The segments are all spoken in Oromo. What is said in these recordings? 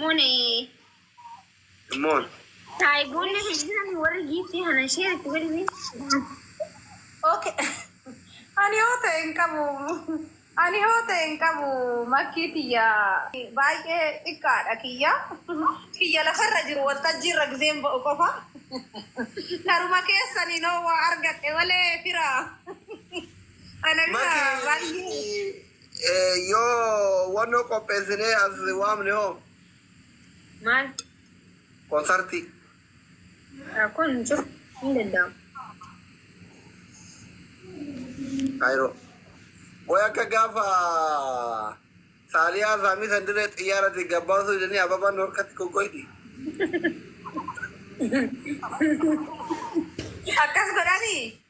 Moon Moon. Saayiboonni hin jiran warri giiftii kana ishee itti godhime. Okay. Ani yoo ta'e hin qabu. Ani yoo ta'e hin qabu makkii tiyya baay'ee xiqqaadha kiyya. Kiyya lafarra jiru waltajjii irra gizeen ba'u qofa. Karuma keessanii noo waa argadhe malee fira. Ana bira baay'ee. Makii Yoo wannoo qopheessinee as waamne hoo? Maal? Konsartii. Rakkoon hin jiru. Hin danda'amu. Kaayiroo. Qoy akka gaafa saaliyaa saamii san dirree xiyyaarati gabbaasuu jedhanii ababaan norkatti kokkoydi. Akkas godhanii?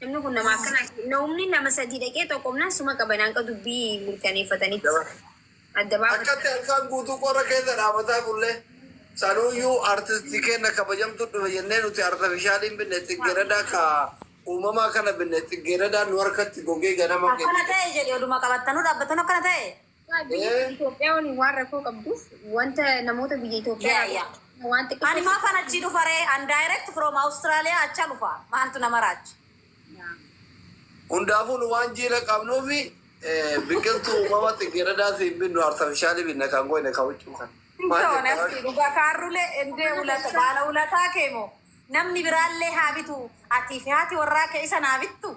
Namni kun nama akkanaa ti. Na'umni nama sadii dhaqee xoqomnaan suma qaban hanga dubbii mirkaneeffatanitti. Adda baafatan. Akkatti halkaan guutuu qorra keessa dhaabataa bulle. Sanuuyyuu artistii keenna kabajamtuu dhufe jennee nuti artafishaalii hin binne tsiggeeredaa ka uumamaa kana binne tsiggeeredaan nu harkatti gogee ganama keenya. Akkana ta'e jedhe oduma qabattanu dhaabbattanu akkana ta'e. Itoophiyaa waliin waan rakkoo qabduuf wanta namoota biyya Itoophiyaa Yeah, yeah. waan xiqqoo Ani maafan achi dhufa ree? An direct from Australia acha dhufa. Maaltu nama raacha? Hundaafuu nu waan jiila qabnuuf eh, biqiltuu uumama xiggeeradaa siin binnu artifishaalii binna kan goone kan huccuu kan. Maal Toon jettaa? asii dhugaa kaarrulee endee ulata baala ulataa kee moo namni biraallee haa bitu atii fi haati warraa kee isa naa bittu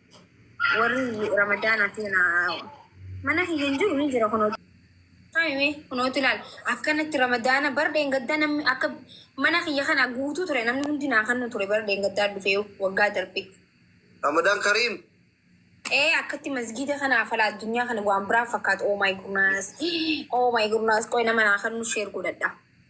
warri ramadaana keena mana kiyya hin jiru ni jira kunoo Saamime kunooti ilaal akkanatti ramadaana bar dheengaddaa namni akka mana kiyya kana guutuu ture namni hundi naa kannu ture bar dheengaddaa dhufee waggaa darbe Ramadan Karim. ee akkatti masgiida kana afala addunyaa kana waan biraa fakkaata oh my goodness oh my goodness qoy nama naa kannu sheer godhadha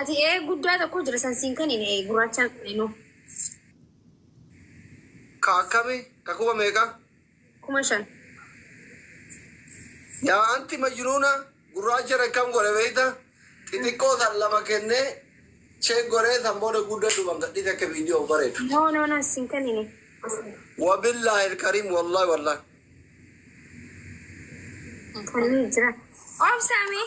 Ati ee guddaa tokko jira san siin kan hin ee gurraachaan qalinoo. Ka akkami ka kuma meeqa? Kuma shan. Yaa anti majnuuna gurraacha akkam godhe beekta xixiqqoo san lama kennee cheek godhee san booda gudda duban gadhiise akka viidiyoo bareedu. No no no siin kan hin ee. Wabillahi alkarim wallahi wallahi. Kanneen jira. Obsaamee.